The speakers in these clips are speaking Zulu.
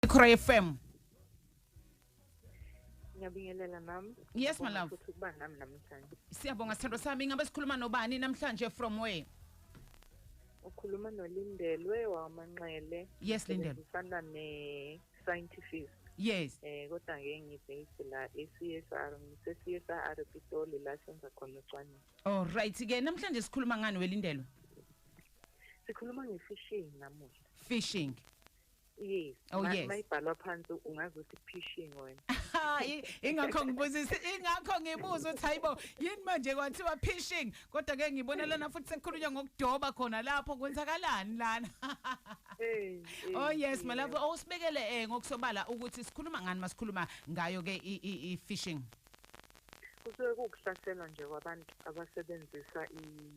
Ikhora FM. Ngiyabingelela mama. Yes my love. Ukuthi kuba nami namhlanje. Siyabonga sithando sami ingabe sikhuluma nobani namhlanje from where? Ukhuluma noLindelwe wamanxele. Yes Lindelwe. Ufana ne scientific. Yes. Eh kodwa ngeke ngibase la eCSR ngise CSR Pitoli la senza khona ucwaningo. All right ke namhlanje sikhuluma ngani weLindelwe? Sikhuluma ngefishing namuhla. Fishing. Yes. Oh, yes. Mayibhalwa phansi ungazi ukuthi phishing wena. Hayi, ingakho ngibuzisa, ingakho ngibuza ukuthi hayibo, yini manje kwathiwa phishing? Kodwa ke ngibona lana futhi sekukhulunywa ngokudoba khona lapho kwenzakalani lana? Eh. Oh yes, malapho awusibekele oh, eh ngokusobala ukuthi sikhuluma ngani masikhuluma ngayo ke i phishing. Kusuke kukuhlasela nje kwabantu abasebenzisa i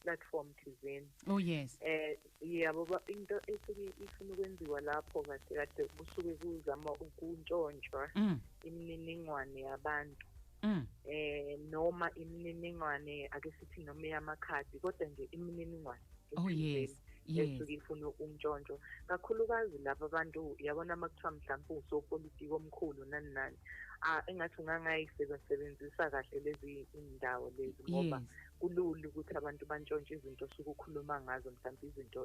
platform thizeni oh yes eh yabo ba into esuke ifuna ukwenziwa lapho kahle kade kusuke kuzama ukuntshontshwa mm. imininingwane yabantu mm. eh noma imininingwane ake sithi noma yamakhadi kodwa nje imininingwane oh yes esuke ifuna umntshontsho kakhulukazi laba bantu yabona uma kuthiwa mhlawumpe usopolitiki omkhulu nani nani engathi ungangayisebenzisa kahle lezi indawo lezi ngoba kulula ukuthi abantu bantshontshe izinto osuke ukhuluma ngazo mhlawumbe izinto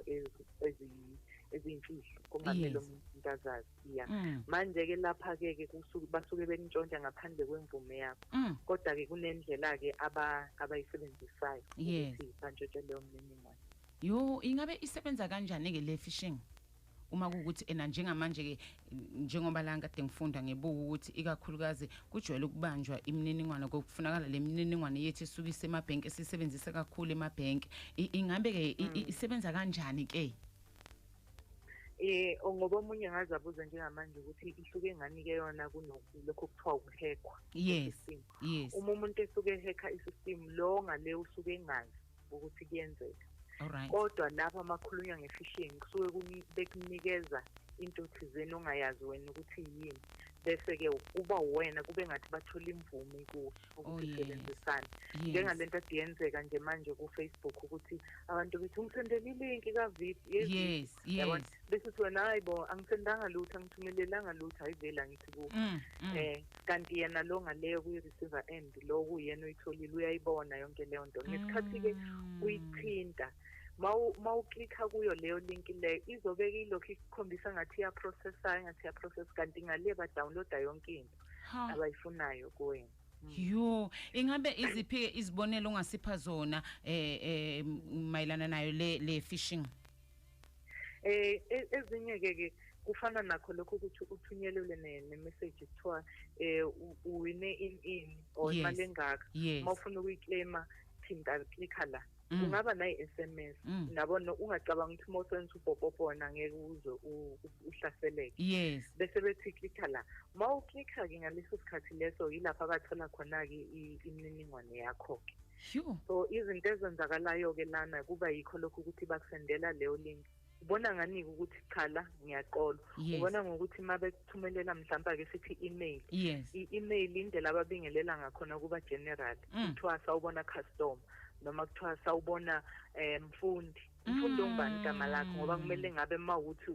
eziyimfihlo kungamele umuntu into azazi ya mm. manje-ke lapha-ke ke basuke benitshontsha ngaphandle kwemvume yakho mm. kodwa-ke kunendlela-ke abayisebenzisayo ukuthi bantshontshe leyo mniningwane yo ingabe isebenza kanjani-ke le fishing uma kuwukuthi ena njengamanje-ke njengoba la ngikade ngifunda ngibuka ukuthi ikakhulukazi kujwayele ukubanjwa imininingwane kokufunakala le mininingwane yethu esuke isemabhenki esiyisebenzise kakhulu emabhenki ingabe-ke mm. isebenza kanjani-ke eh ngoba omunye ngaze abuze njengamanje ukuthi ihluke ngani ke yona kunoku lokho kuthiwa ukuhekwa yes yes uma umuntu esuke ehekha isystem lo ngale usuke engazi ukuthi kuyenzeka Alright. kodwa lapha makhulunywa ngefishing kusuke kuni- bekunikeza into thizeni ongayazi wena ukuthi yini bese-ke kuba wena kube ngathi bathola imvume kuwe Oh, ukuthi yes. sebenzisane Yes. njengale nto ade yenzeka nje manje kufacebook ukuthi abantu bethi ungisendela ilinki kavip Yes, yes. bese uthi wena hayi bo angisendanga lutho angithumelelanga lutho hayi vele angithi kuwe Mm, mm. um kanti yena lo ngaleyo kwi-receiver end lo kuyena uyitholile uyayibona yonke leyo nto ngesikhathi-ke mm. uyithinta mawuklikha kuyo leyo link leyo izobeke ilokhu ikukhombisa ngathi iyaprocessa engathi iyaprocess kanti ngale badownloada yonke into abayifunayo kuwena mm. yo ingabe iziphi-ke izibonelo ongasipha zona um eh, eh, mayelana nayo le, le fishing eh e, ezinye ke ke kufana nakho lokho ukuthi uthunyelelwe ne-message kuthiwa um uwine in in or imali engaka uma ufuna ukuyiclaima thinta klikha la mm. kungaba nayi-s m s mm. nabo ungacabanga ukuthi uma usebenzisa ubhobhobhona ngeke uze uhlaseleke yes bese bethi klikha la uma uklikha-ke ngaleso sikhathi leso yilapho abathola khona-ke imininingwane yakho-ke Sure. So izinto ezenzakalayo ke lana kuba yikho lokho ukuthi bakusendela leyo link. Ubona ngani ukuthi cha la ngiyaqola. Yes. Ubona ngokuthi uma bekuthumelela mhlawumbe ake sithi email. Yes. I-email indlela ababingelela ngakhona kuba general. Mm. Kuthiwa sawubona customer noma kuthiwa sawubona eh mfundi. ngifunda mm. ungubani igama lakho ngoba kumele ngabe ma ukuthi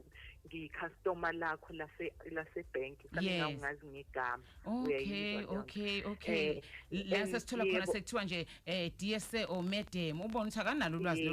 ngiyicustomer lakho lase lase bank kufanele ungazi ngegama okay okay okay eh, la sesithola khona sekuthiwa nje eh DSA or madam ubona ukuthi akanalo ulwazi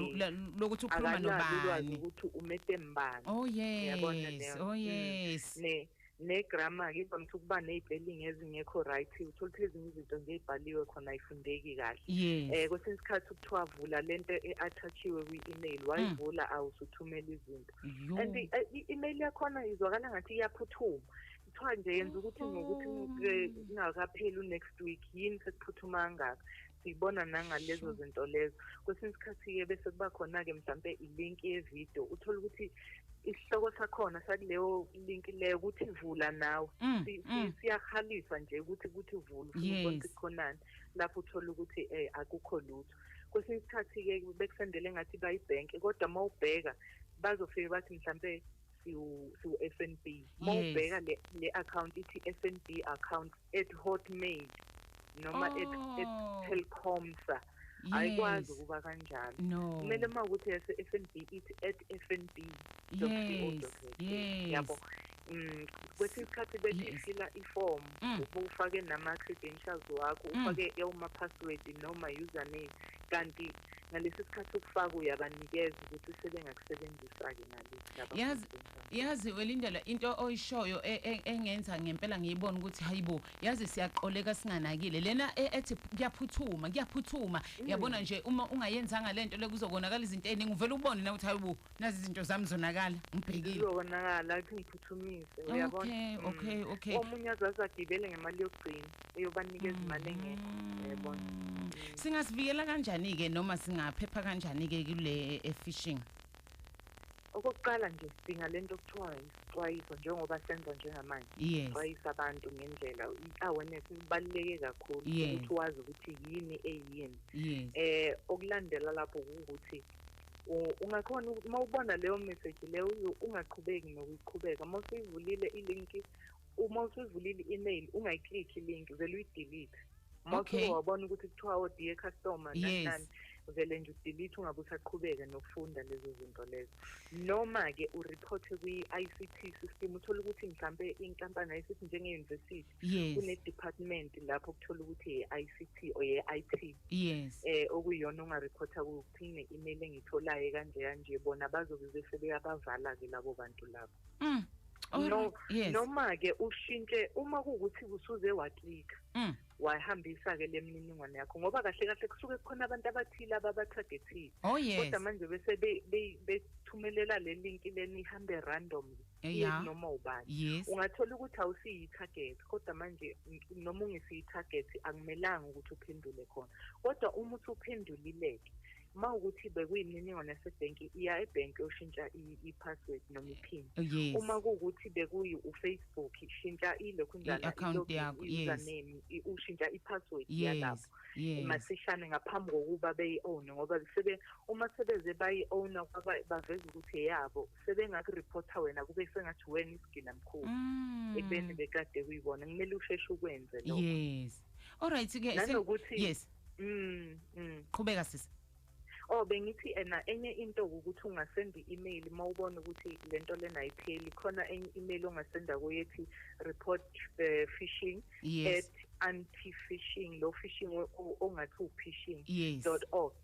lokuthi ukhuluma nobani ukuthi umedem bani oh yes oh mm. yes ne negrama ke vamise ukuba ney'pelingi ezingekho right uthola ukuthi ezinye izinto nje ey'bhaliwe khona ayifundeki kahle um eh, kwesinye isikhathi kuthiwa vula le nto e-athatshiwe kwi-email wayivula mm. awusuthumela izinto and eh, i-email yakhona izwakala ngathi iyaphuthuma kuthiwa nje yenza ukuthi ngokuthi kungakapheli u-next week yini sekuphuthuma kangaka siyibona nangalezo zinto lezo kwesinye isikhathi-ke bese kuba khona-ke mhlawumpe ilinki yevidiyo uthole ukuthi isihloko sakhona sakuleyo link leyo ukuthi vula nawe mm, si, mm. si, siyahalisa nje ukuthi ukuthi vula ukuthi khonani lapho uthola ukuthi eh akukho lutho kwesinye isikhathi ke bekusendele ngathi bayibhenke kodwa uma ubheka bazofike bathi mhlambe siwu-fnb uma ubheka le, le account ithi fnb account at hotmail noma oh. at, at oh. telcomsa ayikwazi ukuba kanjalo kumele uma ukuthi ese-fnb ithi at fnb yabo um kwesinye isikhathi bethi ifila iform mm. ufake nama-credentials wakho mm. ufake ewuma-password noma username kanti ngalesi sikhathi ukufaka uyabanikeza ukuthi sebengakusebenzisa-ke ngalesi yazi welindela into oyishoyo e, e, engenza ngempela ngiyibona ukuthi hayibo yazi siyaqoleka singanakile lena e- ethi kuyaphuthuma kuyaphuthuma Mm. yabona nje uma ungayenzanga lento le kuzokonakala izinto eziningi uvele ubone na ukuthi hayibo nazi izinto zami zonakala ngibhekile Kuzokonakala athi ngiphuthumise uyabona. Okay, Mm. okay, okay. Omunye azazi agibele ngemali yokugcina eyobanikeza imali engekho. Mm. Uyabona. singasivikela kanjani ke noma singaphepha kanjani ke kule eh, fishing Okokuqala nje sidinga lento okuthiwa isixwayiso njengoba senza njengamanje. Yes. Xwayisa abantu ngendlela i-awareness ibaluleke kakhulu Yes. ukuthi wazi ukuthi yini eyini. Yes. Eh okulandela lapho ukuthi u- ungakhona uku- uma ubona leyo message leyo uyo- ungaqhubeki nokuyiqhubeka uma usuyivulile ilinki uma usuyivulile i-email ungayiclick i-link vele uyidelete uma okay. wabona ukuthi kuthiwa o oh, dear customer yes. nanani vele nje udelete ungabe usaqhubeka nokufunda lezo zinto lezo noma-ke ureporte kwi-i c t system uthole ukuthi mhlawumpe inkampani i c t njenge-university yes. kune-department lapho kuthola ukuthi ye-i c t or ye-i t yes. eh, okuyiyona ungareporta kuyo ukuthi ine-email engiyitholayo kanje kanje bona bazobe bese beyabavala-ke labo bantu labo mm. no yes. noma ke ushintshe uma kuwukuthi kusuze waklika mm. wahambisa ke lemininingwane yakho ngoba kahle kahle kusuke kukhona abantu abathile ababatargetile oh, yes. kodwa manje bese bethumelela le link leni ihambe random eh, yeah. noma ubani yes. ungathola ukuthi awusiyi target kodwa manje noma ungesiyi target akumelanga ukuthi uphendule khona kodwa uma uthi uphendulileke uma ukuthi bekuyimininingwane yasebhenki iya ebhenki yoshintsha i-password noma iphini oh, yes. uma kuwukuthi bekuyi ufacebook shintsha ilokhu njalo-account yakho username yes. ushintsha i-password yes. yalapho yes. masishane ngaphambi kokuba beyi-owne ngoba sebe uma sebeze bayi-owna baveza ukuthi eyabo sebengakuripotha wena kube sengathi wena isigila mkhulu mm. ekubeni bekade kuyibona kumele usheshe ukwenze lokho yes all right ke nanokuthi yes Mm, mm. Qhubeka sisi. Oh bengithi ena enye into ukuthi ungasenda i-email mawubona ukuthi lento lena ayipheli khona enye email ongasenda kuyo ethi report uh, phishing yes. at anti phishing lo phishing ongathi u phishing yes. .org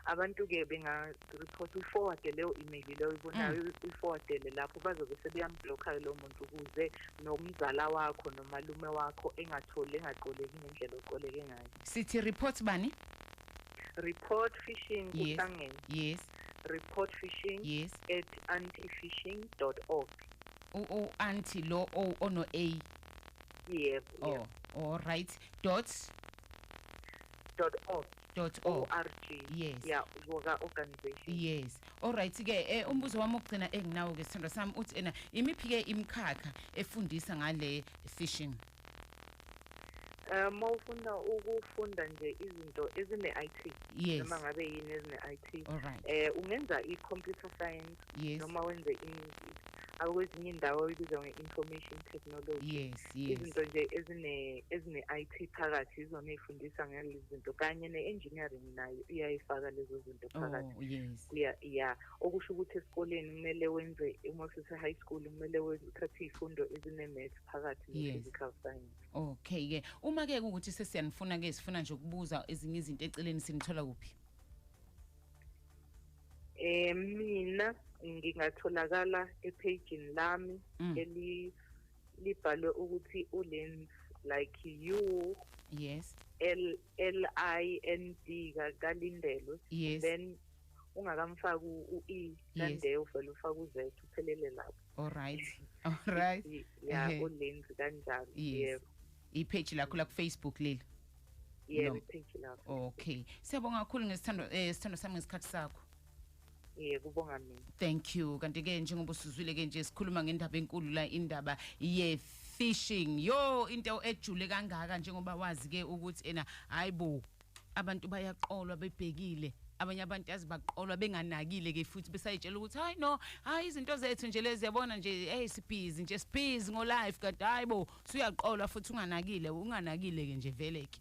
abantu ke benga reports uyiforwade leyo email leyo oyibonayo mm. uyiforwadele lapho bazobe sebeyamblock-ke lowo muntu ukuze nomzala wakho nomalume wakho engatholi engaqoleki ngendlela oqoleke ngayo sithi report bani report fishing kuhlangene yes report fishing yes at antifishing dot org u-anti lo ono-a yebo oh, all right dot dot org dot org org Yes. ya ngoka organization yes olright ke eh, umbuzo wami wokugcina enginawo ke sithando sami uthi ena imiphi ke imikhakha efundisa ngale fishing um mawufuna ukufunda nje izinto ezine-IT yes noma ngabe yini ezine-IT olright eh ungenza i-computer science yes noma wenze i-music akwezinye indawo ibizwa nge-information technology yes yes izinto nje ezine ezine-IT phakathi izona ezifundisa ngalezi zinto kanye ne-engineering nayo iyayifaka lezo zinto oh, phakathi oh, yes ya ya okusho ukuthi esikoleni kumele wenze uma usese high school kumele uthathe izifundo ezine-math phakathi ne-physical science okay ke uma ke ukuthi sesiyanifuna ke sifuna nje ukubuza ezinye izinto eceleni sinithola kuphi Eh mina ngingatholakala ephejini lami mm. eli libhalwe ukuthi ulens like you yes L L I N D kalindelwe yes. then ungakamfaki u-e kande uvele ufake u-z uphelele lapho alright alright ya ulenzi kanjalo yebo ipage lakho la kufacebook leli yebo Lo- ipage lakho okay siyabonga kakhulu ngesithando eh sithando sami ngesikhathi sakho ye kubonga mina thank you kanti ke njengoba usuzwile ke nje sikhuluma ngendaba enkulu la indaba ye fishing yo into ejule kangaka njengoba wazi ke ukuthi ena hayibo abantu bayaqolwa bebhekile abanye abantu yazi baqolwa benganakile ke futhi besayitshela ukuthi hayi no hayi izinto zethu nje lezi yabona nje hey sibhizi nje sibhizi ngo life kanti hayibo suyaqolwa futhi unganakile unganakile ke nje vele ke